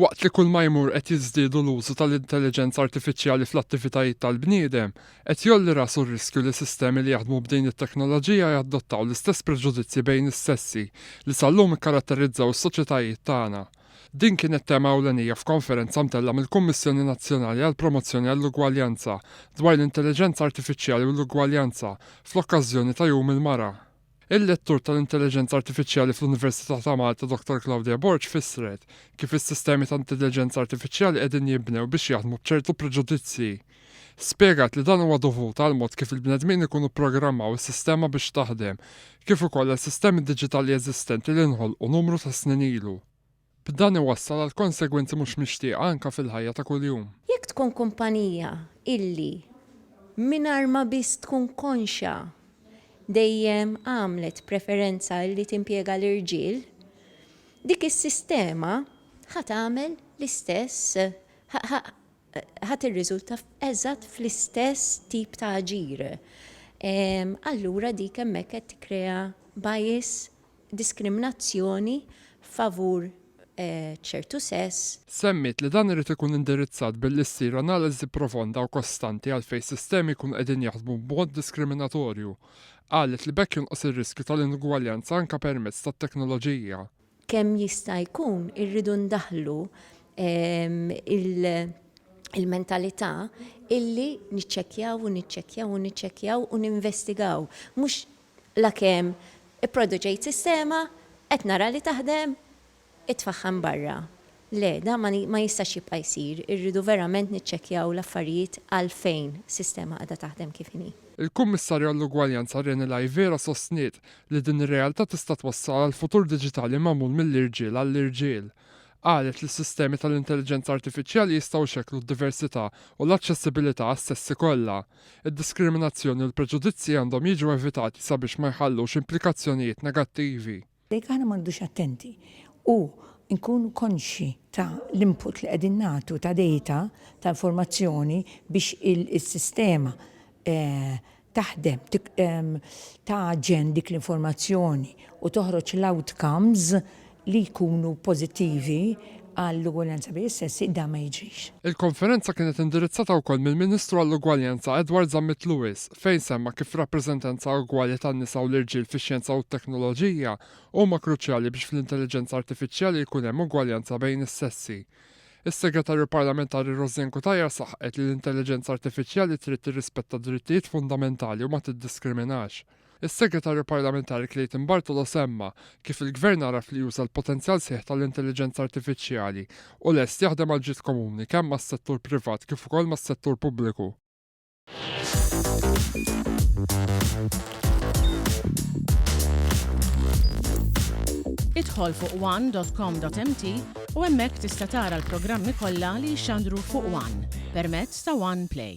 Waqt li kulma jmur qed jiżdiedu l-użu tal-intelliġenza artifiċjali fl-attivitajiet tal-bniedem, qed jgħolli rasu r-riskju li sistemi li jaħdmu b'din it-teknoloġija jadottaw l-istess preġudizzji bejn is-sessi li sal-lum ikkaratterizzaw is-soċjetajiet tagħna. Din kienet tema ewlenija f'konferenza mtellgħa mill-Kummissjoni Nazzjonali għall-Promozzjoni għall-Ugwaljanza dwar l-Intelliġenza Artifiċjali u l-Ugwaljanza fl-okkażjoni ta' Jum il-Mara. Il-lettur tal-intelliġenza artifiċjali fl-Università ta' Malta Dottor Claudia Borg fissret kif is-sistemi ta' intelliġenza artifiċjali qegħdin jinbnew biex jaħdmu b'ċertu preġudizzji. Spjegat li dan huwa dovut għall-mod kif il-bnedmin ikunu pprogrammaw is-sistema biex taħdem, kif ukoll għal sistemi diġitali eżistenti li nħolqu numru ta' snin ilu. B'dan iwassal għal konsegwenzi mhux mixtieqa anke fil-ħajja ta' kuljum. Jekk tkun kumpanija illi, mingħajr ma biss tkun konxja, dejjem għamlet preferenza illi timpjega l-irġiel, dik is-sistema ħa tagħmel l-istess, ħa tirriżulta eżatt fl-istess tip ta' aġir. Allura dik hemmhekk qed tikkrea bias diskriminazzjoni favur ċertu sess. Semmiet li dan irid ikun indirizzat billi ssir analiżi profonda u kostanti għalfejn sistemi jkunu qegħdin jaħdmu b'mod diskriminatorju. Qalet li b'hekk jonqos ir-riskju tal-inugwaljanza anke permezz tat-teknoloġija. Kemm jista' jkun irridu ndaħħlu l-mentalità illi niċċekkjaw u niċċekkjaw u niċċekkjaw u ninvestigaw, mhux Lakemm ipproduċejt sistema, qed nara li taħdem, itfaħħam barra. Le, dan ma ma jistax jibqa' jsir, irridu verament niċċekkjaw l-affarijiet għalfejn sistema qiegħda taħdem kif inhi. Il-Kummissarju għall-Ugwaljanza Reni Laivera sostniet li din ir-realtà tista' twassal għal futur diġitali magħmul mill-irġiel għall-irġiel. Qalet li s-sistemi tal-intelliġenza artifiċjali jistgħu jxekklu d-diversità u l-aċċessibilità għas-sessi kollha. Id-diskriminazzjoni u l-preġudizzji għandhom jiġu evitati sabiex ma jħallux implikazzjonijiet negattivi. Jekk aħna ma nqogħdux attenti u nkunu konxji ta' l-input li qegħdin nagħtu ta' data, ta' informazzjoni biex is-sistema taħdem, tagħġen dik l-informazzjoni u toħroġ l-outcomes li jkunu pożittivi għall-ugwaljanza bejn is-sessi, dan ma jiġrix. Il-konferenza kienet indirizzata wkoll mill-Ministru għall-Ugwaljanza Edward Zammit Lewis fejn semma kif rappreżentanza ugwali tan-nisa u l-irġiel fix-xjenza u t-teknoloġija huma kruċjali biex fl-intelliġenza artifiċjali jkun hemm ugwaljanza bejn is-sessi. Is-Segretarju Parlamentari Rosianne Cutajar saħqet li l-intelliġenza artifiċjali trid tirrispetta d-drittijiet fundamentali u ma tiddiskriminax. Is-Segretarju Parlamentari Clayton Bartolo semma kif il-Gvern għaraf li juża l-potenzjal sħiħ tal-Intelliġenza Artifiċjali u lest jaħdem għall-ġid komuni kemm mas-settur privat kif ukoll mas-settur pubbliku. Idħol fuq one dot com dot mt u hemmhekk tista' tara l-programmi kollha li jxandru fuq one permezz ta' one play.